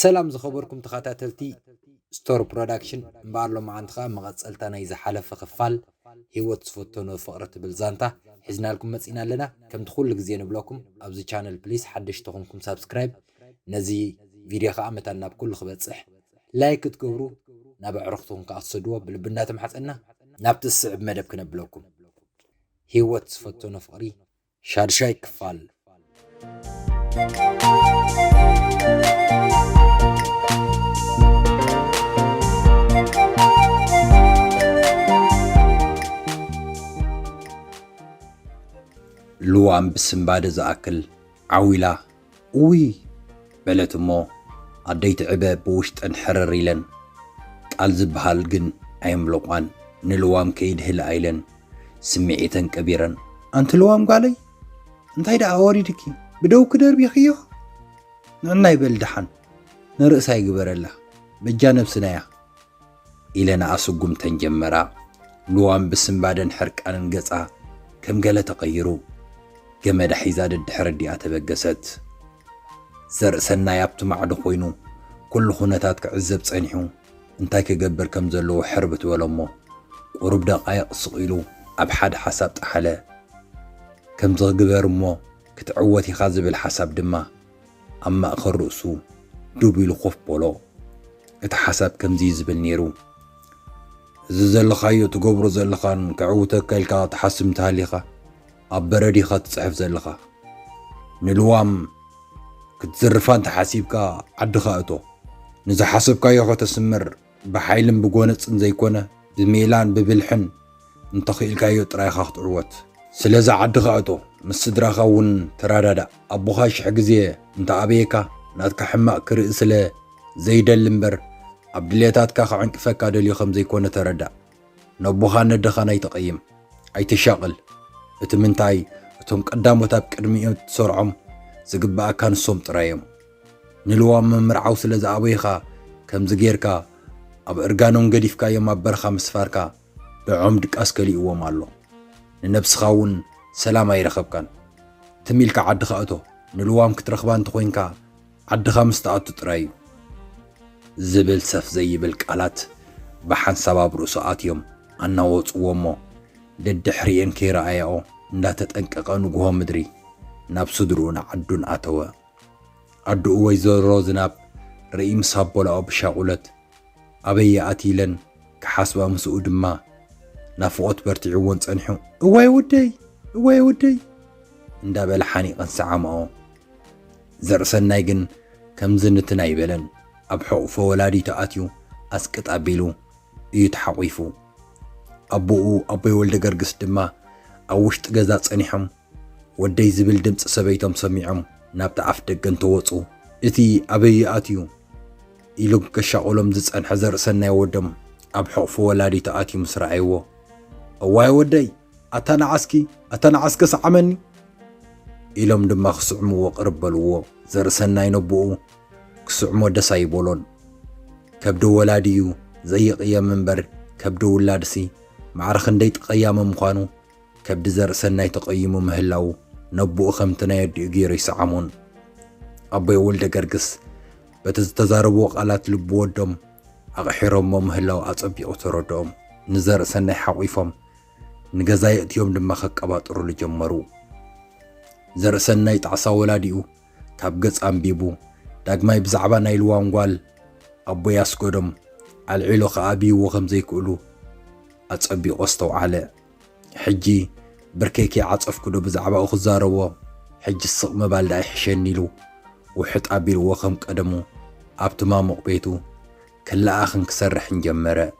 ሰላም ዝኸበርኩም ተኸታተልቲ ስቶር ፕሮዳክሽን እምበኣር ሎማዓንቲ ከዓ መቐፀልታ ናይ ዝሓለፈ ክፋል ሂወት ዝፈተኖ ፍቕሪ ትብል ዛንታ ሒዝናልኩም መፂና ኣለና ከምቲ ኩሉ ግዜ ንብለኩም ኣብዚ ቻነል ፕሊስ ሓደሽቲ ኮንኩም ሳብስክራይብ ነዚ ቪድዮ ከዓ መታን ናብ ኩሉ ክበፅሕ ላይክ ክትገብሩ ናብ ኣዕሩኽትኹም ከዓ ክትሰድዎ ብልቢ እንዳተማሕፀና ናብቲ ዝስዕብ መደብ ክነብለኩም ህይወት ዝፈተኖ ፍቕሪ ሻድሻይ ክፋል ልዋም ብስንባደ ዝኣክል ዓው ኢላ እውይ! በለት እሞ ኣደይ ትዕበ ብውሽጠን ሕርር ኢለን። ቃል ዝብሃል ግን ኣየምለቋን ንልዋም ከይድህልኣ ኢለን ስምዒተን ቀቢረን። ኣንቲ ልዋም ጓለይ! እንታይ ደኣ ኣወሪድኪ ብደውኪ ደርቢኽዮ? ንዕናይ በሊ ደሓን ንርእሳ ይግበረላ በጃ ነብስና'ያ። ኢለናኣ ስጉምተን ጀመራ። ሉዋም ብስንባደን ሕርቃንን ገጻ ከም ገለ ተቐይሩ፣ ገመዳ ሒዛ ደድሕሪ ኣዲኣ ተበገሰት። ዘርእሰናይ ኣብቲ ማዕዶ ኮይኑ ኩሉ ኩነታት ክዕዘብ ጸኒሑ እንታይ ክገብር ከም ዘለዎ ሕርብት በሎ'ሞ ቁሩብ ደቓይቕ ስቕ ኢሉ ኣብ ሓደ ሓሳብ ጠሓለ። ከምዚ ክግበር እሞ ክትዕወት ኢኻ ዝብል ሓሳብ ድማ ኣብ ማእከል ርእሱ ዱብ ኢሉ ኮፍ በሎ። እቲ ሓሳብ ከምዚ ዝብል ነይሩ፣ እዚ ዘለኻዮ ትገብሮ ዘለኻን ከዕውተካ ኢልካ ትሓስብ እንተሃሊኻ ኣብ በረድ ኢኻ ትጽሕፍ ዘለኻ። ንልዋም ክትዝርፋ እንተሓሲብካ ዓድኻ እቶ። ንዝሓሰብካዮ ከተስምር ብሓይልን ብጎነጽን ዘይኮነ ብሜላን ብብልሕን እንተኺኢልካዮ ጥራይ ኢኻ ክትዕወት። ስለዚ ዓድኻ እቶ፣ ምስ ስድራኻ እውን ተረዳዳእ። ኣቦኻ ሽሕ ግዜ እንተኣበየካ ናትካ ሕማቕ ክርኢ ስለ ዘይደሊ እምበር ኣብ ድሌታትካ ክዕንቅፈካ ደልዩ ከም ዘይኮነ ተረዳእ። ነቦኻን ነደኻን ኣይተቐይም። ኣይተሻቕል። እቲ ምንታይ እቶም ቀዳሞት ኣብ ቅድሚኡ እትሰርዖም ዝግበኣካ ንሶም ጥራይ እዮም። ንልዋም ምምርዓው ስለ ዝኣበዩ ኸኣ ከምዚ ጌርካ ኣብ እርጋኖም ገዲፍካዮም ኣብ በረኻ ምስፋርካ ንዖም ድቃስ ከሊእዎም ኣሎ ንነብስኻ ውን ሰላም ኣይረኸብካን ትም ኢልካ ዓድኻ እቶ ንልዋም ክትረኽባ እንተኾይንካ ዓድኻ ምስ ትኣቱ ጥራይ እዩ ዝብል ሰፍ ዘይብል ቃላት ብሓንሳብ ኣብ ርእሱ ኣትዮም ኣናወጽዎ እሞ ደድሕሪኤን ከይረኣያኦ እንዳተጠንቀቐ ንጉሆ ምድሪ ናብ ስድርኡን ዓዱን ኣተወ። ኣዱኡ ወይዘሮ ዝናብ ርእይ ምስ ኣቦላኦ ብሻቁለት ኣበይ ይኣቲ ኢለን ክሓስባ ምስኡ ድማ ናፍቆት በርቲዕዎን ጸኒሑ እዋይ ወደይ እዋይ ወደይ እንዳበለ ሓኒቀን ሰዓማኦ። ዘርእሰናይ ግን ከምዚ ንትን ኣይበለን ኣብ ሕቁፎ ወላዲቱ ኣትዩ ኣስቅጥ ኣቢሉ እዩ ተሓቂፉ። ኣቡኡ ኣቦይ ወልደገርግስ ድማ ኣብ ውሽጢ ገዛ ጸኒሖም ወደይ ዝብል ድምጺ ሰበይቶም ሰሚዖም ናብቲ ኣፍ ደገ እንተወጹ፣ እቲ ኣበይ'ዩ ኣትዩ? ኢሉ ከሻቑሎም ዝጸንሐ ዘርእሰናይ ወዶም ኣብ ሕቑፊ ወላዲቱ ኣትዩ ምስ ረኣይዎ፣ እዋይ ወደይ! ኣታ ንዓስኪ! ኣታ ንዓስኪ ስዓመኒ! ኢሎም ድማ ክስዕምዎ ቅርብ በልዎ። ዘርእሰናይ ነቦኡ ክስዕሞ ደስ ኣይበሎን። ከብዲ ወላዲ'ዩ ዘይቕየም እምበር ከብዲ ውላድሲ ማዕረ ክንደይ ጠቐያሚ ምዃኑ ከብዲ ዘርእሰናይ ተቐይሙ ምህላዉ ነቦኡ ከምቲ ናይ ኣዲኡ ገይሩ ይሰዓሞን። ኣቦይ ወልደገርግስ በቲ ዝተዛረብዎ ቃላት ልቢ ወዶም ኣቕሒሮሞ ምህላዉ ኣጸቢቑ ተረድኦም። ንዘርእሰናይ ሓቚፎም ንገዛ የእትዮም ድማ ከቀባጥሩሉ ጀመሩ። ዘርእሰናይ ጣዕሳ ወላዲኡ ካብ ገጽ ኣንቢቡ ዳግማይ ብዛዕባ ናይ ልዋም ጓል ኣቦይ ኣስጎዶም ኣልዒሎ ክኣብይዎ ከም ዘይክእሉ ኣጸቢቑ ኣስተውዓለ። ሕጂ ብርከይ ከይዓጸፍኩዶ ብዛዕባኡ ክዛረቦ፣ ሕጂስ ስቕ ምባል ደኣ ይሕሸኒ ኢሉ ውሕጥ ኣቢልዎ ከም ቀደሙ ኣብቲ ማሙቕ ቤቱ ክለኣኽን ክሰርሕን ጀመረ።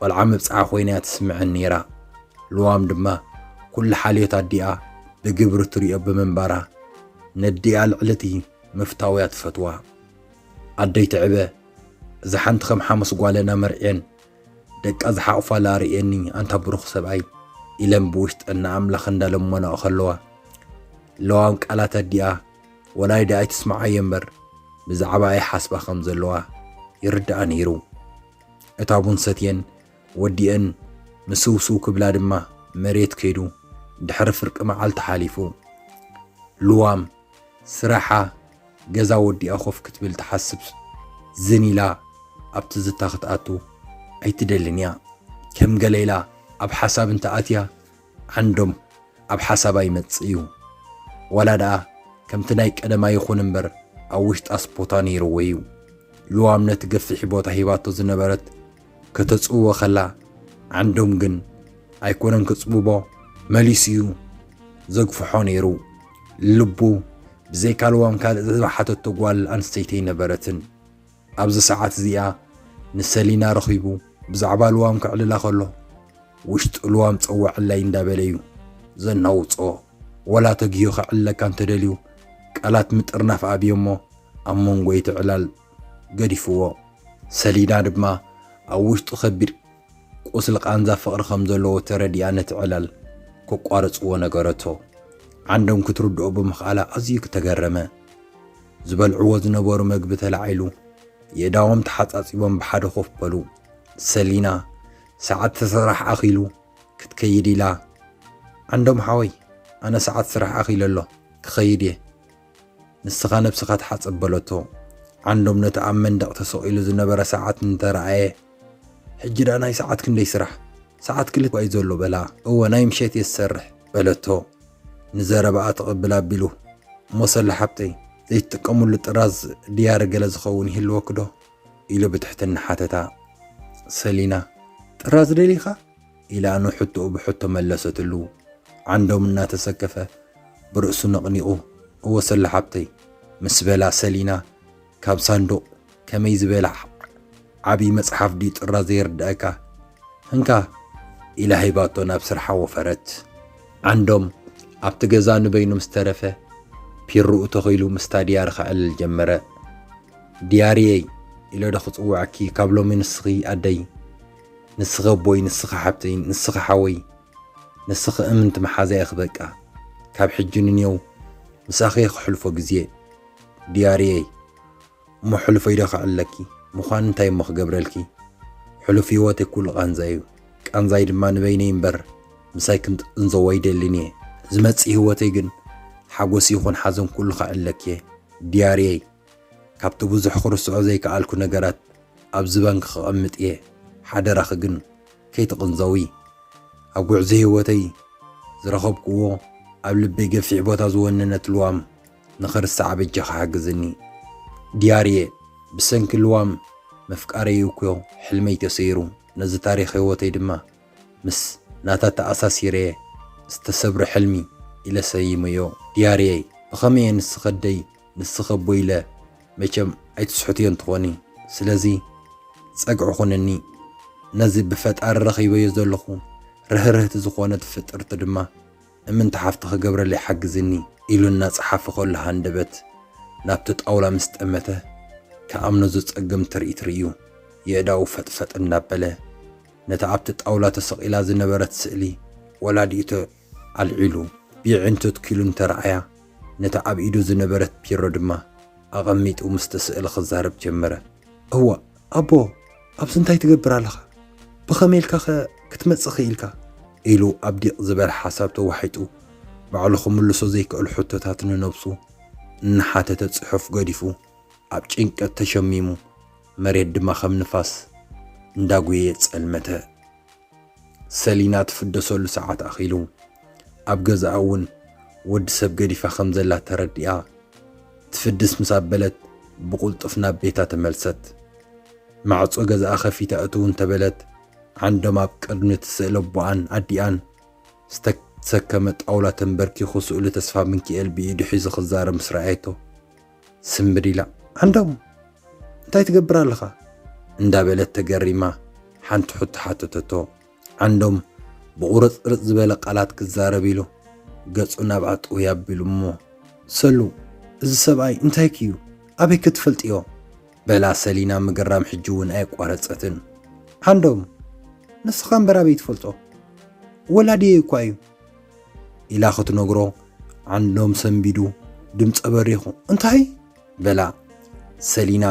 ቆልዓ መብጽዓ ኮይና'ያ ትስምዐን ነይራ። ልዋም ድማ ኩሉ ሓልዮት ኣዲኣ ብግብሪ ትሪኦ ብምንባራ ነዲኣ ልዕሊ'ቲ ምፍታው'ያ ትፈትዋ። ኣደይ ትዕበ እዛ ሓንቲ ከም ሓሙስ ጓለና መርዕየን ደቃ ዝሓቑፋላ ኣርእየኒ ኣንታ ብሩኽ ሰብኣይ ኢለን ብውሽጠን ንኣምላኽ እንዳለመናኦ ከለዋ ለዋም ቃላት ኣዲኣ ወላይዳ ኣይትስምዓዮ እምበር ብዛዕባ ኣይሓስባ ከም ዘለዋ ይርድኣ ነይሩ። እታ ቡን ሰትየን ወዲኤን ምስውስው ክብላ ድማ መሬት ከይዱ። ድሕሪ ፍርቂ መዓልቲ ሓሊፉ። ልዋም ስራሓ ገዛ ወዲኣ ኮፍ ክትብል ትሓስብ። ዝን ኢላ ኣብ ትዝታ ክትኣቱ ኣይትደልን እያ። ከም ገለ ኢላ ኣብ ሓሳብ እንተኣትያ ዓንዶም ኣብ ሓሳባ ይመጽእ እዩ ዋላ ደኣ ከምቲ ናይ ቀደም ኣይኹን እምበር ኣብ ውሽጣስ ቦታ ነይርዎ እዩ። ልዋም ነቲ ገፊሕ ቦታ ሂባቶ ዝነበረት ከተጽብቦ ከላ ዓንዶም ግን ኣይኮነን ክጽብቦ መሊሱ እዩ ዘግፍሖ ነይሩ። ልቡ ብዘይካ ልዋም ካልእ ዝሓተቶ ጓል ኣንስተይቲ ኣይነበረትን። ኣብዚ ሰዓት እዚኣ ንሰሊና ረኺቡ ብዛዕባ ልዋም ከዕልላ ከሎ ውሽጡ ልዋም ጸዋዕለይ እንዳበለ እዩ ዘናውጾ። ወላ ተግሂዩ ከዕልለካ እንተደልዩ ቃላት ምጥርናፍ ኣብዮ እሞ ኣብ መንጎ እቲ ዕላል ገዲፍዎ። ሰሊና ድማ ኣብ ውሽጡ ከቢድ ቁስሊ ቃንዛ ፍቕሪ ከም ዘለዎ ተረዲኣ ነቲ ዕላል ከቋርጽዎ ነገረቶ። ዓንዶም ክትርድኦ ብምኽኣላ ኣዝዩ ተገረመ። ዝበልዕዎ ዝነበሩ መግቢ ተላዒሉ የእዳዎም ተሓጻጺቦም ብሓደ ኮፍ በሉ። ሰሊና ሰዓት ስራሕ ኣኺሉ ክትከይድ ኢላ ዓንዶም ሓወይ ኣነ ሰዓት ስራሕ ኣኺሉ ኣሎ ክኸይድ እየ። ንስኻ ነብስኻ ተሓጸብ በለቶ። ዓንዶም ነቲ ኣብ መንደቕ ተሰቒሉ ዝነበረ ሰዓት እንተረኣየ፣ ሕጂ ደኣ ናይ ሰዓት ክንደይ ስራሕ? ሰዓት ክልተ እኳ'ዩ ዘሎ በላ። እወ ናይ ምሸት እየ ዝሰርሕ በለቶ ንዘረባኣ ትቕብል ኣቢሉ። እሞ ሰሉ ሓብተይ ዘይትጥቀምሉ ጥራዝ ድያሪ ገለ ዝኸውን ይህልወኪ'ዶ? ኢሉ ብትሕትና ሓተታ። ሰሊና ጥራዝ ደሊኻ? ኢላ ንሕቶኡ ብሕቶ መለሰትሉ። ዓንዶም እናተሰከፈ ብርእሱ ነቕኒቑ እወ ሰሉ ሓብተይ ምስ በላ ሰሊና ካብ ሳንዱቕ ከመይ ዝበለ ዓብዪ መጽሓፍ ድዩ ጥራዝ ዘይርድኣካ እንካ ኢላ ሂባቶ ናብ ስርሓ ወፈረት። ዓንዶም ኣብቲ ገዛ ንበይኑ ምስ ተረፈ ፒርኡ ተኺሉ ምስታ ድያሪ ከዕልል ጀመረ። ድያሪየይ ኢለዶ ክጽውዐኪ ካብ ሎሚ ንስኺ ኣደይ። ንስኺ ኣቦይ ንስኺ ሓብተይ ንስኺ ሓወይ ንስኺ እምንቲ መሓዛይ ኢኺ በቃ ካብ ሕጂ ንኔው ምሳኺ እየ ክሕልፎ ግዜ ድያርየይ እሞ ሕሉፈይ ዶ ክዕለኪ ምዃን እንታይ እሞ ክገብረልኪ ሕሉፍ ህይወተይ ኩሉ ቃንዛ እዩ ቃንዛይ ድማ ንበይነይ እምበር ምሳይ ክንጥንዘዎ ኣይደልን እየ ዝመጽእ ህይወተይ ግን ሓጎስ ይኹን ሓዘን ኩሉ ክዕለኪ እየ ድያርየይ ካብቲ ብዙሕ ክርስዖ ዘይከኣልኩ ነገራት ኣብዚ ባንክ ከቐምጥ እየ ሓደራኺ ግን ከይትቕንዘዊ ኣብ ጉዕዞ ሂወተይ ዝረኸብክዎ ኣብ ልበይ ገፊሕ ቦታ ዝወነነት ልዋም ንኽርሳዓ በጃኺ ሓግዝኒ ዲያርየ ብሰንኪ ልዋም ምፍቃረይ እኮዮ ሕልመይ ተሰይሩ ነዚ ታሪኽ ሂወተይ ድማ ምስ ናታ ተኣሳሲረየ ዝተሰብረ ሕልሚ ኢለ ሰይመዮ ዲያርየይ ብኸመየ ንስኺ ኣደይ ንስኺ ኣቦይ ኢለ መቸም ኣይትስሕትዮን ትኾኒ ስለዚ ጸግዒ ኩንኒ ነዚ ብፈጣሪ ረኺበዮ ዘለኹ ርህርህቲ ዝኾነት ፍጥርቲ ድማ እምንቲ ሓፍቲ ክገብረለይ ሓግዝኒ ኢሉ እናጸሓፈ ከሎ ሃንደበት ናብቲ ጣውላ ምስ ጠመተ ክኣምኖ ዘጸግም ትርኢት ርእዩ የእዳዉ ፈጥፈጥ እናበለ ነታ ኣብቲ ጣውላ ተሰቒላ ዝነበረት ስእሊ ወላዲኡ ኣልዒሉ ብየዒንቱ ትኪሉ እንተረኣያ፣ ነታ ኣብ ኢዱ ዝነበረት ቢሮ ድማ ኣቐሚጡ ምስቲ ስእሊ ክዛረብ ጀመረ። እዋእ ኣቦ! ኣብዚ እንታይ ትገብር ኣለኻ? ብኸመይ ኢልካኸ ክትመጽእ ክኢልካ? ኢሉ ኣብ ዲቕ ዝበለ ሓሳብ ተዋሒጡ፣ ባዕሉ ክምልሶ ዘይክእል ሕቶታት ንነብሱ እናሓተተ ጽሑፍ ገዲፉ ኣብ ጭንቀት ተሸሚሙ፣ መሬት ድማ ከም ንፋስ እንዳጉየየ ጸልመተ። ሰሊና ትፍደሰሉ ሰዓት ኣኺሉ። ኣብ ገዝኣ እውን ወዲ ሰብ ገዲፋ ከም ዘላ ተረዲኣ፣ ትፍድስ ምስ ኣበለት ብቕልጡፍ ናብ ቤታ ተመልሰት። ማዕጾ ገዝኣ ከፊታ እትው እንተ በለት፣ ዓንዶም ኣብ ቅድሚ እቲ ስእሊ ኣቦኣን ኣዲኣን ዝተሰከመ ጣውላ ተንበርኪኹ ስእሉ ተስፋምንኪኤል ብኢዱ ሒዙ ክዛረብ ምስ ረኣየቶ፣ ስንብድ ኢላ፣ ዓንዶም! እንታይ ትገብር ኣለኻ? እንዳበለት ተገሪማ ሓንቲ ሕቶ ሓተተቶ። ዓንዶም ብቑርጽርጽ ዝበለ ቃላት ክዛረብ ኢሉ ገጹ ናብኣ ጥውይ ኣቢሉ እሞ ሰሉ እዚ ሰብኣይ እንታይኪ እዩ ኣበይ ክትፈልጥዮ? በላ ሰሊና ምግራም ሕጂ እውን ኣየቋረጸትን። ዓንዶም ንስኻ እምበር ኣበይ ትፈልጦ ወላድየይ እኳ እዩ ኢላ ክትነግሮ ዓንዶም ሰንቢዱ ድምፀ በሪኹ እንታይ በላ ሰሊና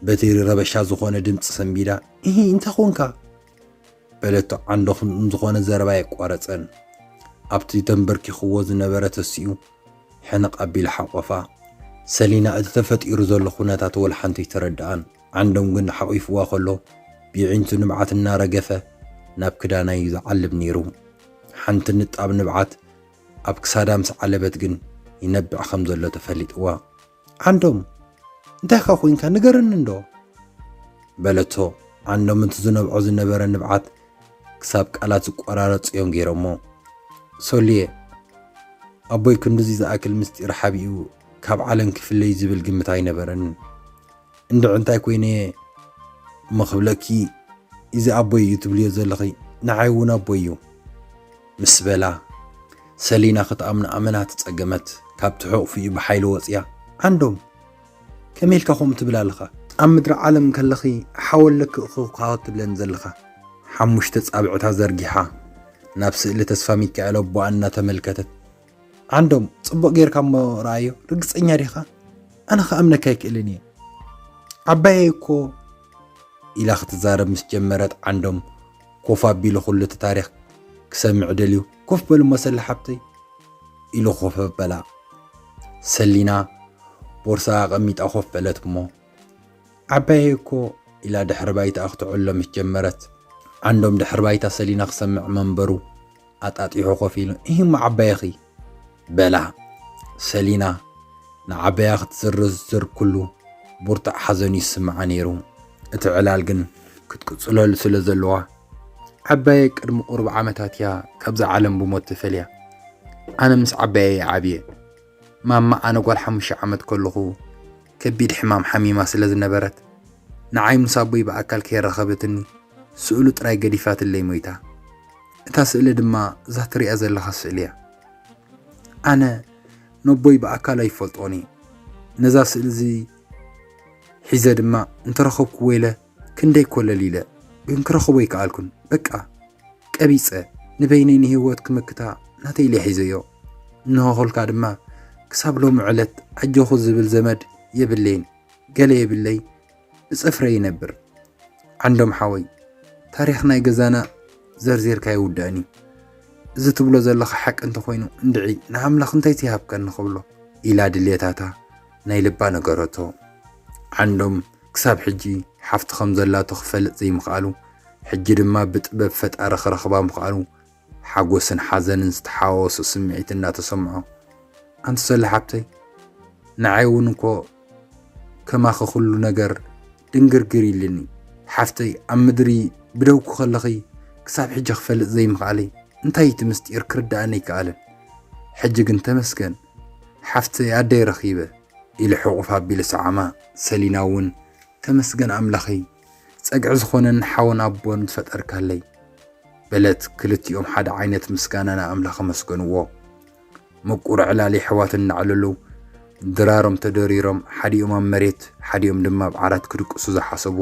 በቲ ረበሻ ዝኾነ ድምፂ ሰንቢዳ እ እንታይ ኮንካ በለቶ ዓንዶ ዝኾነ ዘረባ የቋረፀን ኣብቲ ተንበርኪኽዎ ዝነበረ ተሲኡ ሕንቕ ኣቢሉ ሓቆፋ ሰሊና እቲ ተፈጢሩ ዘሎ ኩነታት ወልሓንቲ ተረድኣን ዓንዶም ግን ሓቂፍዋ ከሎ ብዒንቱ ንብዓት እናረገፈ ናብ ክዳናዩ ዝዓልብ ነይሩ ሓንቲ ንጣብ ንብዓት ኣብ ክሳዳ ምስ ዓለበት ግን ይነብዕ ከም ዘሎ ተፈሊጥዋ። ዓንዶም እንታይካ ኮንካ ንገረኒ እንዶ በለቶ። ዓንዶም እቲ ዝነብዖ ዝነበረ ንብዓት ክሳብ ቃላት ዝቆራረጹ እዮም ገይሮሞ። ሶልየ ኣቦይ ክንድዚ ዝኣክል ምስጢር ሓቢኡ ካብ ዓለም ክፍለዩ ዝብል ግምት ኣይነበረንን። እንድዒ እንታይ ኮይነ እየ እሞ ክብለኪ እዚ ኣቦይ እዩ ትብልዮ ዘለኺ ንዓይ እውን ኣቦይ እዩ ምስ በላ ሰሊና ክትኣምኖ ኣመና ተጸገመት ካብቲ ሕቑፍኡ ብሓይሊ ወጽያ ዓንዶም ከመይ ኢልካ ከምኡ ትብል ኣለኻ ኣብ ምድሪ ዓለም ከለኺ ሓወለኪ እኽኻወት ትብለን ዘለኻ ሓሙሽተ ጻብዕታ ዘርጊሓ ናብ ስእሊ ተስፋ ሚካኤል ኣቦኣ እናተመልከተት ዓንዶም ጽቡቕ ጌርካ እሞ ረኣዮ ርግጸኛ ዲኻ ኣነ ክኣምነካ ኣይክእልን እየ ዓባየ እኮ ኢላ ክትዛረብ ምስ ጀመረት ዓንዶም ኮፍ ኣቢሉ ኩሉ እቲ ታሪክ ክሰምዕ ደልዩ ኮፍ በሉ መሰሊ ሓብተይ ኢሉ ኮፍ በላ ሰሊና ቦርሳ ኣቐሚጣ ኮፍ በለት እሞ ዓባየ እኮ ኢላ ድሕሪ ባይታ ክትዕሎ ምስ ጀመረት ዓንዶም ድሕሪ ባይታ ሰሊና ክሰምዕ መንበሩ ኣጣጢሑ ኮፍ ኢሉ፣ እሂ'ሞ ዓባየኺ! በላ። ሰሊና ንዓባያ ክትዝርዝር ኩሉ ቡርትዕ ሓዘን'ዩ ዝስምዓ ነይሩ። እቲ ዕላል ግን ክትቅጽለሉ ስለ ዘለዋ፣ ዓባየይ ቅድሚ ቁሩብ ዓመታት'ያ ካብዛ ዓለም ብሞት ተፈልያ። ኣነ ምስ ዓባየይ'የ ዓብየ። ማማ ኣነ ጓል ሓሙሽተ ዓመት ከለኹ ከቢድ ሕማም ሓሚማ ስለ ዝነበረት ንዓይ ምስ ኣቦይ ብኣካል ከየራኸበትኒ ስእሉ ጥራይ ገዲፋትለይ ሞይታ። እታ ስእሊ ድማ እዛ ትሪኣ ዘለኻ ስእሊ እያ። ኣነ ነቦይ ብኣካል ኣይፈልጦን እየ። ነዛ ስእሊ እዚ ሒዘ ድማ እንተረኸብክዎ ኢለ ክንደይ ኮለል ኢለ ግን ክረኽቦ ኣይከኣልኩን በቃ ቀቢጸ ንበይነይ ንህይወት ክምክታ ናተይ ኢለ ሒዘዮ እንሆ ኹልካ ድማ ክሳብ ሎሚ ዕለት ኣጆኹ ዝብል ዘመድ የብለይን ገለ የብለይ ብጸፍረይ ይነብር ዓንዶም ሓወይ ታሪኽ ናይ ገዛና ዘርዚርካ ይውዳእኒ እዚ ትብሎ ዘለኻ ሓቂ እንተኾይኑ እንድዒ ንኣምላኽ እንታይ ትይሃብከኒ ክብሎ ኢላ ድልየታታ ናይ ልባ ነገረቶ ዓንዶም ክሳብ ሕጂ ሓፍቲ ከም ዘላቶ ክፈልጥ ዘይምኽኣሉ ሕጂ ድማ ብጥበብ ፈጣሪ ክረኽባ ምኽኣሉ ሓጎስን ሓዘንን ዝተሓዋወሶ ስምዒት እንዳተሰምዖ ኣንቲ ሰሉ ሓብተይ ንዓይ እውን እንኮ ከማኺ ኩሉ ነገር ድንግርግር ኢልኒ ሓፍተይ ኣብ ምድሪ ብደውኩ ከለኺ ክሳብ ሕጂ ክፈልጥ ዘይምኽኣለይ እንታይ እቲ ምስጢር ክርዳኣኒ ኣይከኣለን ሕጂ ግን ተመስገን ሓፍተይ ኣደይ ረኺበ ኢሉ ሕቑፍ ኣቢሉ ሰዓማ። ሰሊና እውን ተመስገን ኣምላኸይ፣ ጸግዒ ዝኾነኒ ሓውን ኣቦን ዝፈጠርካለይ፣ በለት። ክልቲኦም ሓደ ዓይነት ምስጋና ንኣምላኽ ኣመስገንዎ። ምቁር ዕላል የሕዋት እናዕለሉ ድራሮም ተደሪሮም ሓዲኦም ኣብ መሬት ሓዲኦም ድማ ኣብ ዓራት ክድቅሱ ዝሓሰቡ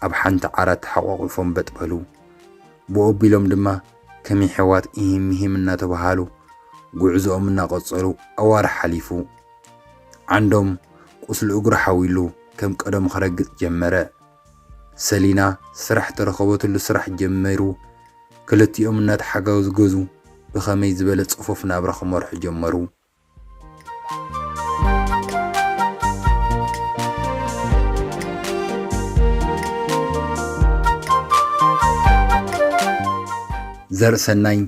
ኣብ ሓንቲ ዓራት ተሓቋቒፎም በጥ በሉ። ብኡ ኣቢሎም ድማ ከም የሕዋት ኢሂም ምሂም እናተበሃሃሉ ጉዕዞኦም እናቐጸሉ ኣዋርሕ ሓሊፉ። ዓንዶም ቁስሉ እግሩ ሓዊሉ ከም ቀደሙ ከረግጽ ጀመረ። ሰሊና ስራሕ ተረኸበትሉ ስራሕ ጀሚሩ ክልቲኦም እናተሓጋዝገዙ ብኸመይ ዝበለ ጽፉፍ ናብራ ክመርሑ ጀመሩ። ዘርእሰናይ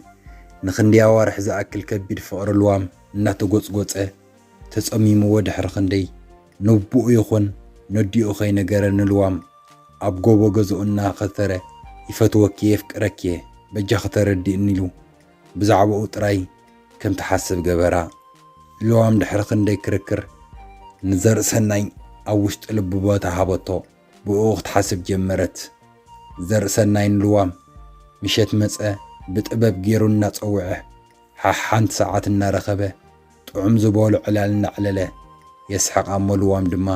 ንክንደይ ኣዋርሕ ዝኣክል ከቢድ ፍቕሪ ልዋም እናተጎጽጎጸ ተጸሚምዎ ድሕሪ ክንደይ ነቦኡ ይኹን ነዲኡ ከይነገረ ንልዋም ኣብ ጎቦ ገዝኡ እናኸተረ ይፈትወኪ'የ የፍቅረኪ'የ በጃኺ ተረድእኒ ኢሉ ብዛዕባኡ ጥራይ ከም ትሓስብ ገበራ። ልዋም ድሕሪ ክንደይ ክርክር ንዘርእሰናይ ኣብ ውሽጢ ልቡ ቦታ ሃበቶ ብእኡ ክትሓስብ ጀመረት። ዘርእሰናይ ንልዋም ምሸት መጸ ብጥበብ ጌሩ እናጸውዐ ሓሓንቲ ሰዓት እናረኸበ ጥዑም ዝበሎ ዕላል እናዕለለ፣ የስሕቕ ኣሞ ልዋም ድማ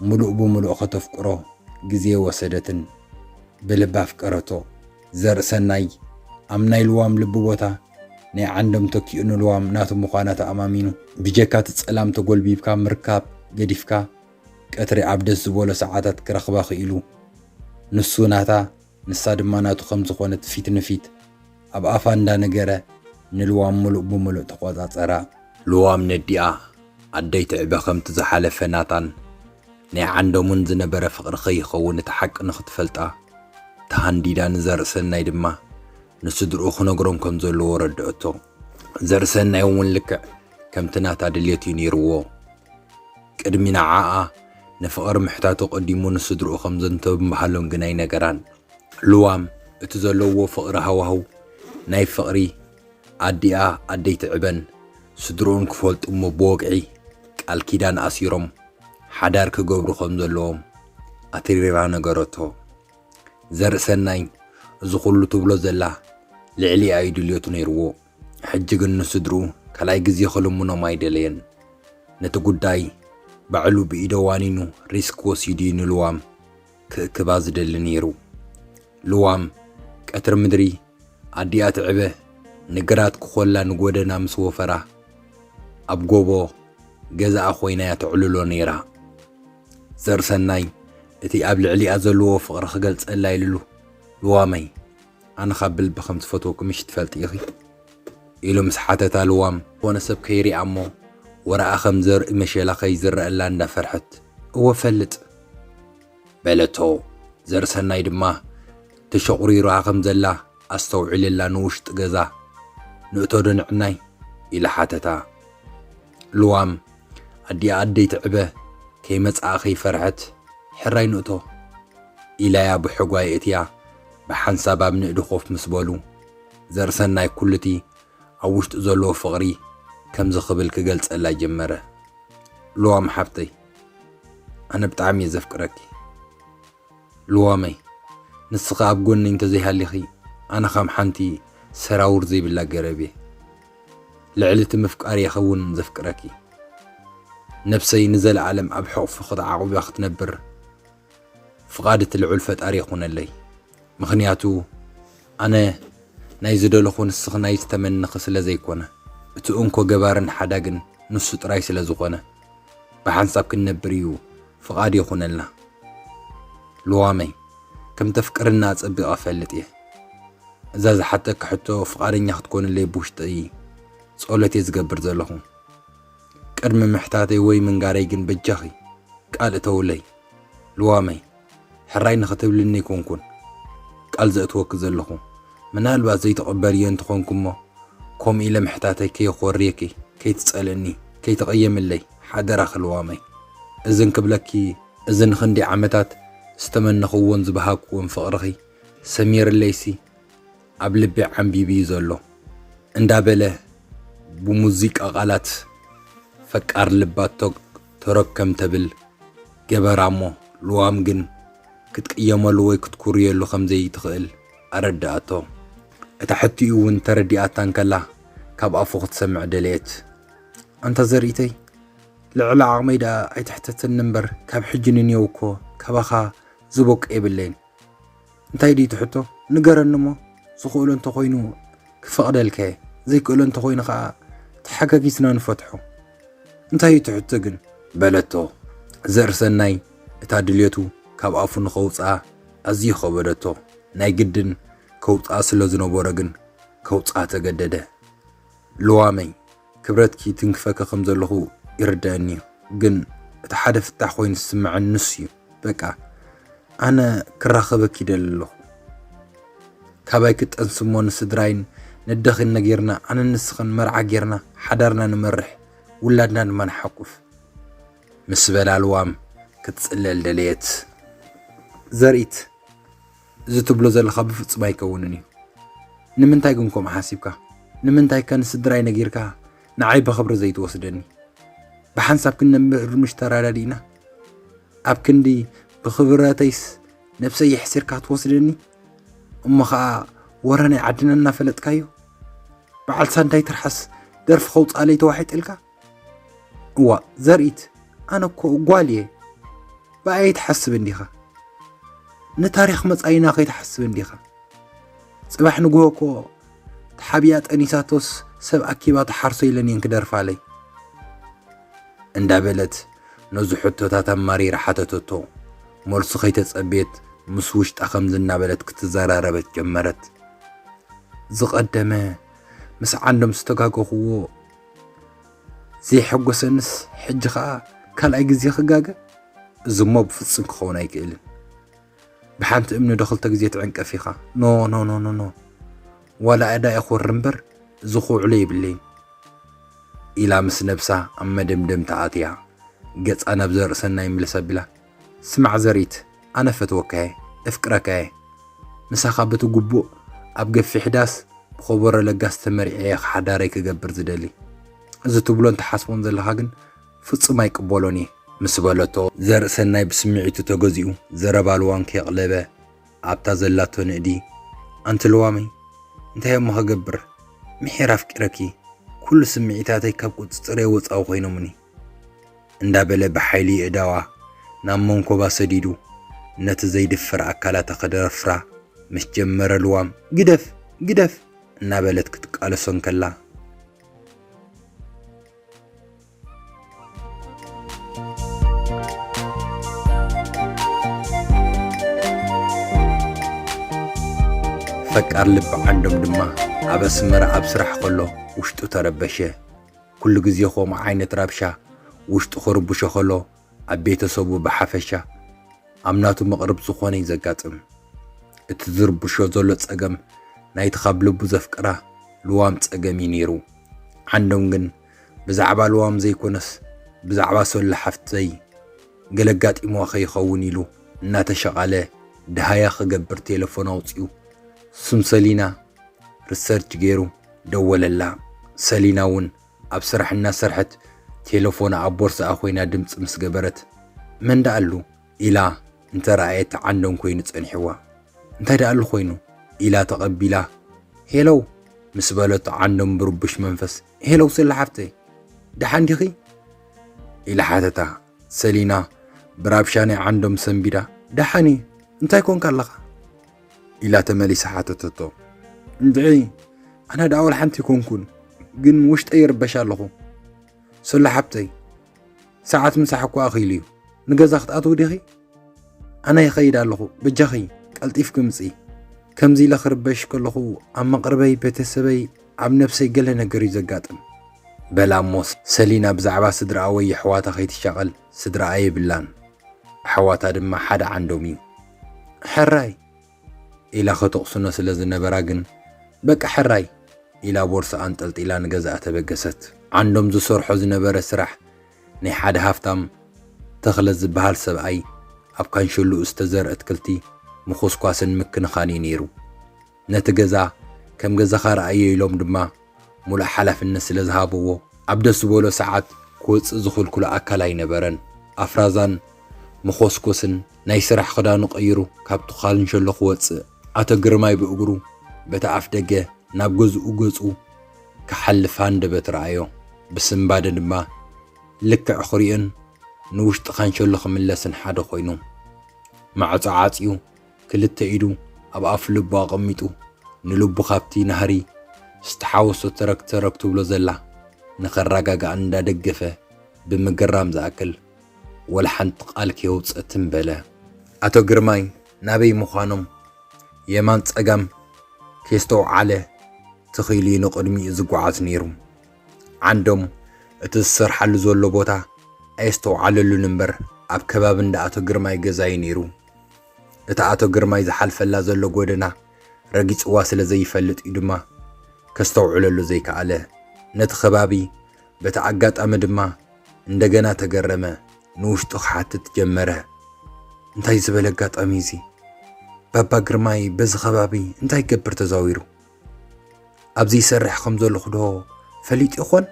ምሉእ ብምሉእ ከተፍቅሮ ግዜ ኣይወሰደትን። ብልቢ ኣፍቀረቶ። ዘርእሰናይ ኣብ ናይ ልዋም ልቢ ቦታ ናይ ዓንዶም ተኪኡ ንልዋም ናቱ ምዃና ተኣማሚኑ፣ ብጀካ እቲ ጸላም ተጎልቢብካ ምርካብ ገዲፍካ ቀትሪ ኣብ ደስ ዝበሎ ሰዓታት ክረኽባ ክኢሉ። ንሱ ናታ ንሳ ድማ ናቱ ከም ዝኾነት ፊት ንፊት ኣብ ኣፋ እንዳ ነገረ ንልዋም ምሉእ ብምሉእ ተቖጻጸራ። ልዋም ነዲኣ ኣደይ ትዕበ ከምቲ ዝሓለፈ ናታን ናይ ዓንደሙን ዝነበረ ፍቕሪ ከይኸውን እቲ ሓቂ ንኽትፈልጣ ተሃንዲዳ ንዘርእሰናይ ድማ ንስድርኡ ክነግሮም ከም ዘለዎ ኣረድኦቶ። ዘርእሰናይ እውን ልክዕ ከምቲ ናታ ድሌት እዩ ነይርዎ። ቅድሚ ንዓኣ ንፍቕሪ ምሕታቱ ቀዲሙ ንስድርኡ ከም ዘንተብ ምባህሎም ግን ኣይነገራን። ልዋም እቲ ዘለውዎ ፍቕሪ ሃዋህው ናይ ፍቕሪ ኣዲኣ ኣደይቲ ዕበን ስድርኡን ክፈልጡ እሞ ብወግዒ ቃል ኪዳን ኣሲሮም ሓዳር ክገብሩ ከም ዘለዎም ኣትሪራ ነገረቶ። ዘርእሰናይ እዚ ኩሉ ትብሎ ዘላ ልዕሊኣ እዩ ድልዮቱ ነይርዎ። ሕጂ ግን ንስድርኡ ካልኣይ ግዜ ክልምኖም ኣይደለየን። ነቲ ጉዳይ ባዕሉ ብኢደ ዋኒኑ ሪስክ ወሲዱ እዩ ንልዋም ክእክባ ዝደሊ ነይሩ። ልዋም ቀትሪ ምድሪ ኣዲኣ ትዕበ ንግራት ክኾላ ንጎደና ምስ ወፈራ ኣብ ጎቦ ገዛኣ ኮይና እያ ተዕልሎ ነይራ። ዘርሰናይ እቲ ኣብ ልዕሊኣ ዘለዎ ፍቕሪ ክገልጸላ ኢሉሉ፣ ልዋመይ፣ ኣነ ካብ ብልቢ ከም ዝፈትወኩምሽ ትፈልጢ ኢኺ? ኢሉ ምስ ሓተታ ልዋም፣ ዝኾነ ሰብ ከይሪኣ'ሞ ወረኣ ከም ዘርኢ መሸላ ከይዝረኣላ እንዳ ፈርሐት፣ እወ እፈልጥ! በለቶ። ዘርሰናይ ድማ ተሸቑሪራ ከም ዘላ ኣስተውዒሉላ ንውሽጢ ገዛ ንእቶ'ዶ ንዕናይ? ኢሉ ሓተታ። ልዋም ኣዲኣ ኣደይ ትዕበ ከይመጽኣ ከይፈርሐት ሕራይ ንእቶ ኢላያ ብሕጓ የእትያ ብሓንሳብ ኣብ ንእዲ ኮፍ ምስ በሉ ዘርእሰናይ ኩሉቲ ኣብ ውሽጡ ዘለዎ ፍቕሪ ከምዚ ክብል ክገልጸላ ጀመረ ልዋም ሓብተይ ኣነ ብጣዕሚ እየ ዘፍቅረኪ ልዋመይ ንስኺ ኣብ ጎነይ እንተዘይሃሊኺ ኣነ ከም ሓንቲ ሰራውር ዘይብላ ገረብ እየ ልዕሊ እቲ ምፍቃር የከውን ዘፍቅረኪ ነብሰይ ንዘላኣለም ኣብ ሕቁፍኪ ተዓቁባ ክትነብር ፍቃድ እቲ ልዑል ፈጣሪ ይኩነለይ ምክንያቱ ኣነ ናይ ዝደለኩ ንስኪ ናይ ዝተመነኪ ስለ ዘይኮነ እቲ እንኮ ገባርን ሓዳግን ንሱ ጥራይ ስለ ዝኮነ ብሓንሳብ ክንነብር እዩ ፍቓድ ይኹነልና። ሉዋመይ፣ ከም ተፍቅርኒ ኣጸቢቐ እፈልጥ እየ። እዛ ዝሓተኪ ሕቶ ፍቓደኛ ክትኮንለይ ብውሽጠይ ጸሎት እየ ዝገብር ዘለኹ። ቅድሚ ምሕታተይ ወይ ምንጋረይ ግን በጃኺ ቃል እተውለይ። ሉዋመይ። ሕራይ ንኽትብልኒ ኣይኮንኩን ቃል ዘእትወኪ ዘለኹ፣ ምናልባት ዘይትቕበልዮ እንተኾንኪ'ሞ ከምኡ ኢለ ምሕታተይ ከየኾርየኪ፣ ከይትጸልእኒ፣ ከይትቕየምለይ ሓደራኺ ልዋመይ። እዚ እንክብለኪ፣ እዚ ንኽንደይ ዓመታት ዝተመነኽዎን ዝበሃግክዎን ፍቕርኺ ሰሚርለይሲ ኣብ ልበይ ዓምቢቡ'ዩ ዘሎ እንዳበለ ብሙዚቃ ቃላት ፈቃር ልባ ቶግ ተረክ ከም ተብል ገበራ እሞ ልዋም ግን ክትቅየመሉ ወይ ክትኩርየሉ ከም ዘይትኽእል ኣረድኣቶ። እታ ሕትኡ እውን ተረዲኣታ እንከላ ካብ ኣፉ ክትሰምዕ ደለየት። ኣንታ ዘርኢተይ ልዕሊ ዓቕመይ ደኣ ኣይትሕተተኒ እምበር ካብ ሕጂ ንንየው እኮ ካባኻ ዝቦቅ የብለይን። እንታይ ድዩ እቲ ሕቶ ንገረኒ እሞ ዝኽእሎ እንተኾይኑ ክፈቕደልካ እየ ዘይክእሎ እንተኾይኑ ኸኣ ተሓጋጊዝና ንፈትሖ እንታይ እዩ እቲ ሕቶ ግን በለቶ ዘርእሰናይ እታ ድልየቱ ካብ ኣፉ ንኸውጽኣ ኣዝዩ ከበደቶ ናይ ግድን ከውጽኣ ስለ ዝነበሮ ግን ከውጽኣ ተገደደ ልዋመይ ክብረትኪ ይትንክፈኪ ከም ዘለኹ ይርደኣኒ እዩ ግን እቲ ሓደ ፍታሕ ኮይኑ ዝስመዐኒ ንሱ እዩ በቃ ኣነ ክራኸበኪ ይደሊ ኣለኹ ካባይ ክጠንሲ እሞ ንስድራይን ነደኺን ነጊርና ኣነ ንስኽን መርዓ ጌርና ሓዳርና ንመርሕ ውላድና ድማ ንሓቁፍ ምስ በላ ልዋም ክትጽለል ደለየት ዘርኢት እዚ ትብሎ ዘለኻ ብፍጹም ኣይከውንን እዩ። ንምንታይ ግን ከምኡ ሓሲብካ? ንምንታይከ ንስድራይ ነጊርካ ንዓይ ብኽብሪ ዘይትወስደኒ? ብሓንሳብ ክንነብር ምሽ ተረዳዲእና? ኣብ ክንዲ ብኽብረተይስ ነብሰይ የሕሲርካ ትወስደኒ? እሞ ኸኣ ወረ ናይ ዓድና እናፈለጥካዮ በዓል ሳንዳይ ትርሓስ ደርፊ ከውፅኣለይ ተዋሒጥልካ እዋእ ዘርኢት ኣነ እኮ ጓል እየ ብኣይ ኣይትሓስብ እንዲኻ ንታሪኽ መጻኢና ከይትሓስብ እንዲኻ ጽባሕ ንግሆ እኮ ተሓቢኣ ጠኒሳቶስ ሰብ ኣኪባ ተሓርሶ ኢለን እየን ክደርፋለይ እንዳበለት ነዚ ሕቶታት ኣማሪራ ሓተተቶ መልሱ ከይተጸብየት ምስ ውሽጣ ከምዚ እናበለት ክትዘራረበት ጀመረት ዝቐደመ ምስ ዓንዶም ዝተጋገኹዎ ዘየሐጎሰንስ ሕጂ ከዓ ካልኣይ ግዜ ክጋገ እዚ እሞ ብፍፁም ክኸውን ኣይክእልን ብሓንቲ እምኒ ዶ ክልተ ግዜ ትዕንቀፍ ኢኻ ኖ ኖ ኖ ኖ ኖ ዋላ እዳ ይኹር እምበር እዚ ክውዕሎ የብለይን ኢላ ምስ ነብሳ ኣብ መደምደምታ ኣትያ ገፃ ናብ ዘርእሰናይ ምልስ ኣቢላ ስማዕ ዘሪት ኣነ እፈትወካየ እፍቅረካየ ምሳኻ በቲ ጉቡእ ኣብ ገፊሕ ዳስ ብኾቦሮ ለጋስ ተመሪዐየ ሓዳረይ ክገብር ዝደሊ እዚ ትብሎን ትሓስቦን ዘለኻ ግን ፍጹም ኣይቅበሎን እየ ምስ በለቶ፣ ዘርእሰናይ ብስምዒቱ ተገዚኡ ዘረባ ልዋም ከየቕለበ ኣብታ ዘላቶ ንእዲ፣ ኣንቲ ልዋመይ እንታይ እሞ ክገብር ምሒር ኣፍቂረኪ ኩሉ ስምዒታተይ ካብ ቁጽጽረይ ወጻኢ ኮይኖሙኒ እንዳበለ ብሓይሊ የእዳዋ ናብ መንኮባ ሰዲዱ ነቲ ዘይድፈር ኣካላታ ክደፍራ ምስ ጀመረ ልዋም ግደፍ ግደፍ እናበለት ክትቃለሶ እንከላ ፈቃር ልቢ ዓንዶም ድማ ኣብ ኣስመራ ኣብ ስራሕ ከሎ ውሽጡ ተረበሸ። ኩሉ ግዜ ከምኡ ዓይነት ረብሻ ውሽጡ ክርብሾ ከሎ ኣብ ቤተሰቡ ብሓፈሻ ኣብ ናቱ መቕርብ ዝኾነ እዩ ዘጋጥም። እቲ ዝርብሾ ዘሎ ጸገም ናይቲ ካብ ልቡ ዘፍቅራ ልዋም ጸገም እዩ ነይሩ። ዓንዶም ግን ብዛዕባ ልዋም ዘይኮነስ ብዛዕባ ሶሎ ሓፍተይ፣ ገለ ኣጋጢምዋ ከይኸውን ኢሉ እናተሸቓለ ደሃያ ክገብር ቴለፎን ኣውጺኡ ስም ሰሊና ርሰርች ገይሩ ደወለላ። ሰሊና እውን ኣብ ስራሕ እናሰርሐት ቴለፎና ኣብ ቦርስኣ ኮይና ድምጺ ምስ ገበረት መን ደኣሉ ኢላ እንተረኣየት ዓንዶም ኮይኑ ጸኒሕዋ። እንታይ ደኣሉ ኮይኑ ኢላ ተቐቢላ ሄሎው ምስ በለቶ ዓንዶም ብርቡሽ መንፈስ ሄሎው ሰሊ ሓፍተይ ደሓን ዲኺ? ኢላ ሓተታ። ሰሊና ብራብሻ ናይ ዓንዶም ሰንቢዳ ደሓን እየ እንታይ ኮንካ ኣለኻ ኢላ ተመሊሳ ሓተተቶ። እንድዒ ኣነ ደኣ ወላ ሓንቲ ኮንኩን ግን ውሽጠይ ይርበሽ ኣለኹ ሰሉ ሓብተይ ሰዓት ምሳሕ እኳ ኣኺሉ እዩ ንገዛ ክትኣትዊ ዲኺ ኣነ ይኸይድ ኣለኹ በጃኺ ቀልጢፍኪ ምፂ። ከምዚ ኢለ ክርበሽ ከለኹ ኣብ መቕርበይ ቤተሰበይ ኣብ ነብሰይ ገለ ነገር እዩ ዘጋጥም። በላ እሞ ሰሊና ብዛዕባ ስድርኣ ወይ የሕዋታ ከይትሻቐል ስድርኣ የብላን ኣሕዋታ ድማ ሓደ ዓንዶም እዩ። ሕራይ! ኢላ ከተቕስኖ ስለ ዝነበራ ግን በቃ ሕራይ! ኢላ ቦርስኣ ኣንጠልጢላ ንገዝኣ ተበገሰት። ዓንዶም ዝሰርሖ ዝነበረ ስራሕ ናይ ሓደ ሃፍታም ተኽለ ዝበሃል ሰብኣይ ኣብ ካንሸሎኡ ዝተዘርእ ኣትክልቲ ምኹስኳስን ምክንኻን'ዩ ነይሩ። ነቲ ገዛ ከም ገዛኻ ርኣዮ ኢሎም ድማ ምሉእ ሓላፍነት ስለ ዝሃብዎ፣ ኣብ ደስ ዝበሎ ሰዓት ክወጽእ ዝኽልክሎ ኣካል ኣይነበረን። ኣፍራዛን መኾስኮስን ናይ ስራሕ ክዳኑ ቀይሩ ካብቲ ካንሸሎ ክወጽእ፣ ኣቶ ግርማይ ብእግሩ በቲ ኣፍደገ ናብ ገዝኡ ገጹ። ክሓልፍ ሃንደበት ረኣዮ። ብስንባደ ድማ ልክዕ ክሪኦን ንውሽጢ ካንሸሎ ክምለስን ሓደ ኮይኑ። ማዕጾ ዓጽዩ ክልተ ኢዱ ኣብ ኣፍ ልቡ ኣቐሚጡ ንልቡ ካብቲ ናህሪ ዝተሓወሶ ተረግ ተረግ ትብሎ ዘላ ንኸራጋግኣ እንዳደገፈ ብምግራም ዝኣክል ወላ ሓንቲ ቃል ከየውጸ ትም በለ። ኣቶ ግርማይ ናበይ ምዃኖም የማን ጸጋም ከየስተውዓለ ትኺኢሉ ዩ ንቕድሚኡ ዝጓዓዝ ነይሩ። ዓንዶም እቲ ዝሰርሓሉ ዘሎ ቦታ ኣየስተውዓለሉን እምበር ኣብ ከባቢ እንዳ ኣቶ ግርማይ ገዛ ዩ ነይሩ። እታ ኣቶ ግርማይ ዝሓልፈላ ዘሎ ጎደና ረጊጽዋ ስለ ዘይፈልጥ ዩ ድማ ከስተውዕለሉ ዘይከኣለ። ነቲ ከባቢ በቲ ኣጋጣሚ ድማ እንደገና ተገረመ፣ ንውሽጡ ክሓትት ጀመረ። እንታይ ዝበለ ኣጋጣሚ እዩ እዚ? ባባ ግርማይ በዚ ከባቢ እንታይ ይገብር ተዛዊሩ? ኣብዚ ይሰርሕ ከም ዘለኹ ዶ ፈሊጡ ይኾን?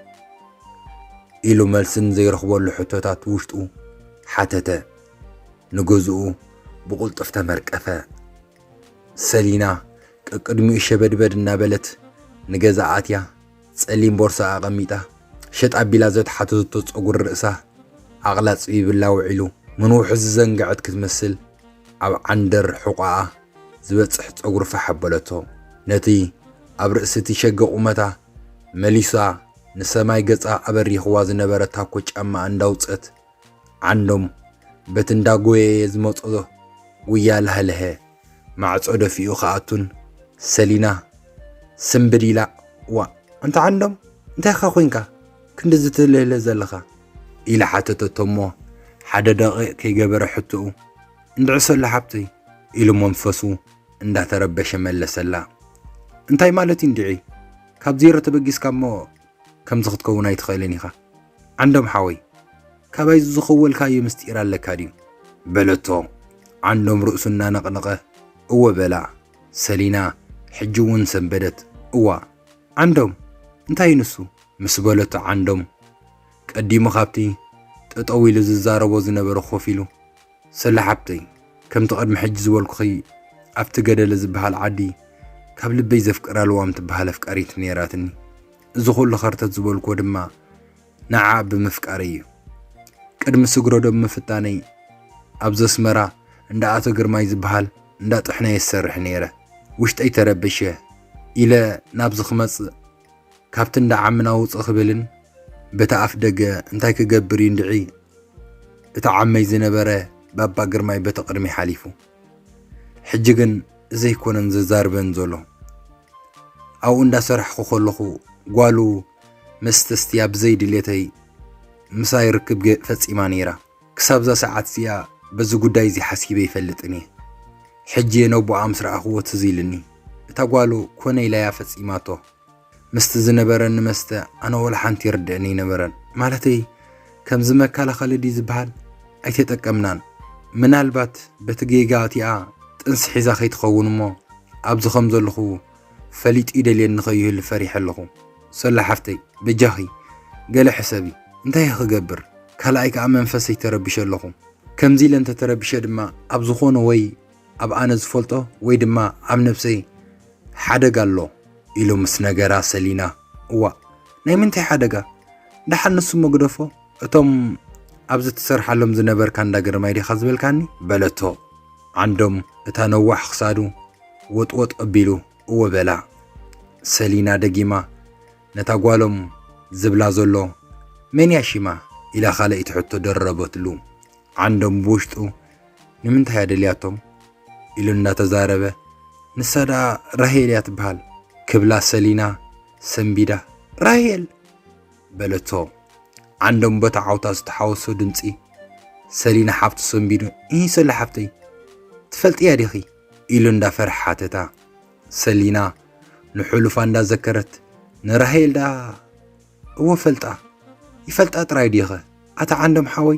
ኢሉ መልሲ ንዘይረኽበሉ ሕቶታት ውሽጡ ሓተተ። ንገዝኡ ብቕልጡፍ ተመርቀፈ። ሰሊና ቀቅድሚኡ ሸበድበድ እናበለት ንገዛ ኣትያ ጸሊም ቦርሳኣ ኣቐሚጣ፣ ሸጥ ኣቢላ ዘትሓተተቶ ጸጉሪ ርእሳ ኣቕላጽ ይብላ ውዒሉ። ምንውሑ ዝዘንገዐት ክትመስል ኣብ ዓንደር ሕቖኣ ዝበጽሕ ጸጉሪ ፋሕ ኣበለቶ። ነቲ ኣብ ርእሲ'ቲ ሸገ ቁመታ መሊሳ ንሰማይ ገጻ ኣበሪኽዋ ዝነበረ ታኮ ጫማኣ እንዳውጸት ዓንዶም በቲ እንዳጎየየ ዝመጾ ጉያ ለሃለሀ። ማዕጾ ደፊኡ ክኣቱን ሰሊና ስምብል ኢላ ዋእ ኣንታ ዓንዶም እንታይካ ኮንካ ክንድዚ ትልህልህ ዘለኻ ኢላ ሓተተቶ እሞ ሓደ ደቂቕ ከይገበረ ሕትኡ እንድዕሰሉ ሓብተይ ኢሉ መንፈሱ እንዳተረበሸ መለሰላ እንታይ ማለት እዩ እንድዒ ካብ ዜሮ ተበጊስካ እሞ ከምዚ ክትከውን ኣይትኽእልን ኢኻ ዓንዶም ሓወይ ካባይ ዝኸወልካዮ ምስጢር ኣለካ ድዩ በለቶ ዓንዶም ርእሱ እናነቕነቐ እወ በላ ሰሊና ሕጂ እውን ሰንበደት እዋ ዓንዶም እንታይ እዩ ንሱ ምስ በለቶ ዓንዶም ቀዲሙ ካብቲ ጠጠው ኢሉ ዝዛረቦ ዝነበረ ኮፍ ኢሉ ሰለ ሓብተይ ከምቲ ቅድሚ ሕጂ ዝበልኩኺ ኣብቲ ገደለ ዝበሃል ዓዲ ካብ ልበይ ዘፍቅራ ልዋም ትበሃል ኣፍቃሪት ነይራትኒ። እዚ ኩሉ ከርተት ዝበልኩዎ ድማ ንዓኣ ብምፍቃረይ እዩ። ቅድሚ ስግረዶብ ምፍታነይ ኣብ ዘስመራ እንዳ ኣቶ ግርማይ ዝበሃል እንዳ ጥሕኖ እየ ዝሰርሕ ነይረ። ውሽጠይ ተረበሸ ኢለ ናብዚ ክመጽእ ካብቲ እንዳ ዓምና ውጽእ ክብልን በቲ ኣፍ ደገ እንታይ ክገብር እዩ እንድዒ እቲ ዓመይ ዝነበረ ባባ ግርማይ በቲ ቅድሚ ሓሊፉ ሕጂ ግን ዘይኮነን ዘዛርበን ዘሎ ኣብኡ እንዳሰራሕኩ ከለኹ ጓሉ መስተስትያ ብዘይ ድሌተይ ምሳይ ርክብ ፈጺማ ነይራ። ክሳብዛ ሰዓት እዚኣ በዚ ጉዳይ እዚ ሓሲበ ኣይፈልጥን እየ። ሕጂ እየ ነቦኣ ምስ ረኣኽዎ ትዝ ኢልኒ። እታ ጓሉ ኮነ ኢላ እያ ፈጺማቶ። ምስቲ ዝነበረኒ መስተ ኣነ ወላ ሓንቲ ይርድእኒ ኣይነበረን። ማለተይ ከምዚ መከላኸሊ ድዩ ዝበሃል ኣይተጠቀምናን። ምናልባት በቲ ጌጋ እቲኣ ጥንሲ ሒዛ ከይትኸውን እሞ ኣብዚ ከም ዘለኹ ፈሊጡ ይደልየኒ ከይህሉ ፈሪሐ ኣለኹ ሰሉ ሓፍተይ በጃኺ ገለ ሕሰቢ እንታይ'የ ክገብር ካልኣይ ከኣ መንፈሰይ ተረቢሸ ኣለኹ ከምዚ ኢለ እንተ ተረቢሸ ድማ ኣብ ዝኾነ ወይ ኣብ ኣነ ዝፈልጦ ወይ ድማ ኣብ ነብሰይ ሓደጋ ኣሎ ኢሉ ምስ ነገራ ሰሊና እዋእ ናይ ምንታይ ሓደጋ ደሓን ንሱ እሞ ግደፎ እቶም ኣብዚ ትሰርሓሎም ዝነበርካ እንዳ ግርማይ ዲኻ ዝበልካኒ? በለቶ። ዓንዶም እታ ነዋሕ ክሳዱ ወጥወጥ ኣቢሉ እወ በላ። ሰሊና ደጊማ ነታ ጓሎም ዝብላ ዘሎ መን እያ ሽማ? ኢላ ካልኣይቲ ሕቶ ደረበትሉ። ዓንዶም ብውሽጡ ንምንታይ እያ ደልያቶም? ኢሉ እንዳተዛረበ ንሳ ደኣ ራሄል እያ ትበሃል ክብላ ሰሊና ሰንቢዳ ራሄል በለቶ ዓንዶም በታ ዓውታ ዝተሓወሶ ድምፂ። ሰሊና ሓፍቱ ሰንቢዱ እሂ ሰሉ ሓፍተይ ትፈልጥያ ዲኺ ኢሉ እንዳፈርሐ ሓተታ። ሰሊና ንሕሉፋ እንዳዘከረት ንራሄል ደኣ እወ ፈልጣ ይፈልጣ ጥራይ ዲኸ ኣታ ዓንዶም ሓወይ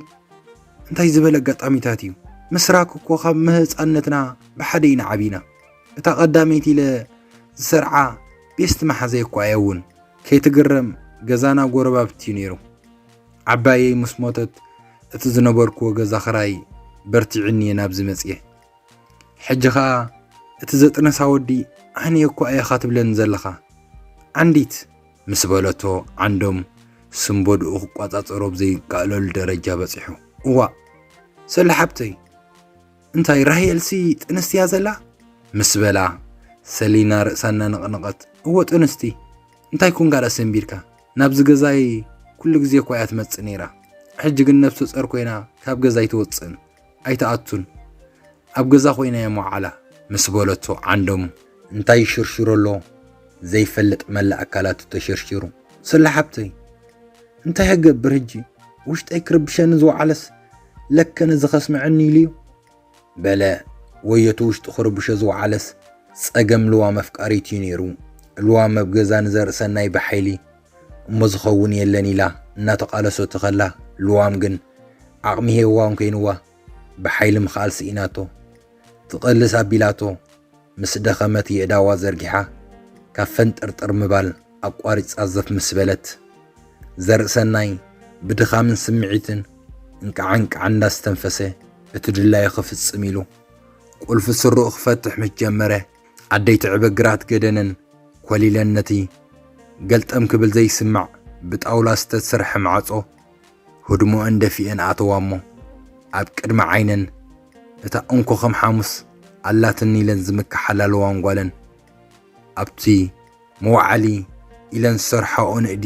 እንታይ ዝበለ ኣጋጣሚታት እዩ ምስራክ እኮ ካብ ምህፃነትና ብሓደ ኢና ዓቢና እታ ቀዳመይቲ ኢለ ዝሰርዓ ቤስት መሓዘይ እኳ እያ እውን ከይትግረም ገዛና ጎረባብቲ እዩ ነይሩ። ዓባየይ ምስ ሞተት እቲ ዝነበርክዎ ገዛ ክራይ በርቲዑኒ እየ ናብዚ መፅየ። ሕጂ ኸኣ እቲ ዘጥነሳ ወዲ ኣነ እኮ ኣየኻ ትብለኒ ዘለኻ ዓንዲት! ምስ በለቶ ዓንዶም ስምበድኡ ክቋፃፀሮ ብዘይከኣለሉ ደረጃ በፂሑ። እዋእ ሰሉ ሓብተይ እንታይ ራሄልሲ ጥንስቲ እያ ዘላ ምስ በላ ሰሊና ርእሳ እናነቕነቐት እዎ ጥንስቲ እንታይ ኩን ጋዳ ሰንቢድካ ናብዚ ገዛይ ኩሉ ግዜ እኳ እያ ትመፅእ ነይራ ሕጂ ግን ነብሰ ፀር ኮይና ካብ ገዛ ኣይትወፅእን ኣይትኣቱን ኣብ ገዛ ኮይና እያ መውዓላ ምስ በለቶ ዓንዶም እንታይ ይሽርሽሮ ኣሎ ዘይፈልጥ መላእ ኣካላቱ ተሸርሺሩ። ሰላ ሓብተይ እንታይ ክገብር ሕጂ ውሽጠይ ክርብሸኒ ዝወዓለስ ለከ ነዚ ከስምዐኒ ኢሉዩ በለ። ወዮቲ ውሽጡ ክርብሾ ዝወዓለስ ጸገም ልዋም ኣፍቃሪት እዩ ነይሩ። ልዋም ኣብ ገዛ ንዘርኢ ሰናይ ብሓይሊ እሞ ዝኸውን የለን ኢላ እናተቓለሶት ከላ ልዋም ግን ዓቕሚ ሄዋን ኮይንዋ ብሓይሊ ምኽኣል ስኢናቶ፣ ትቐልስ ኣቢላቶ፣ ምስ ደኸመት የእዳዋ ዘርጊሓ ካብ ፈንጠርጠር ምባል ኣቋሪጻ ዘፍ ምስ በለት፣ ዘርእሰናይ ብድኻምን ስምዒትን እንቃዕ እንቃዕ እንዳስተንፈሰ እቲ ድላዩ ክፍጽም ኢሉ ቁልፊ ስርኡ ክፈትሕ ምስ ጀመረ፣ ኣደይ ትዕበ ግራት ገደነን ኮሊለን ነቲ ገልጠም ክብል ዘይስማዕ ብጣውላ ዝተሰርሐ ማዕጾ፣ ህድሞኣን ደፊኤን ኣተዋ'ሞ ኣብ ቅድሚ ዓይነን እታ እንኮ ከም ሓሙስ ኣላትኒ ኢለን ዝምከሓላለዋን ጓለን ኣብቲ መውዓሊ ኢለን ዝሰርሓኦ ንእዲ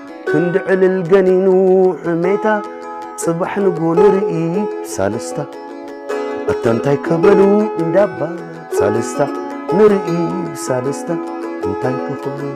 ክንዲ ዕልል ገኒኑ ሕሜታ ጽባሕ ንግሆ ንርኢ ሳልስታ ኣታ እንታይ ከበሉ እንዳባ ሳልስታ ንርኢ ሳልስታ እንታይ ከኽብሉ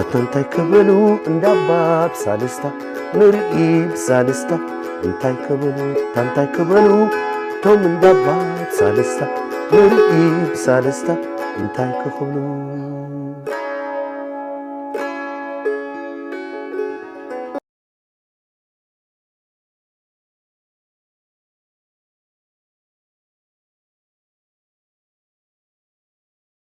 ኣታ እንታይ ክብሉ እንዳባ ብሳልስታ ንርኢ ብሳልስታ እንታይ ክብሉ ኣታ እንታይ ክብሉ እቶም እንዳባ ብሳልስታ ንርኢ ብሳልስታ እንታይ ክኽብሉ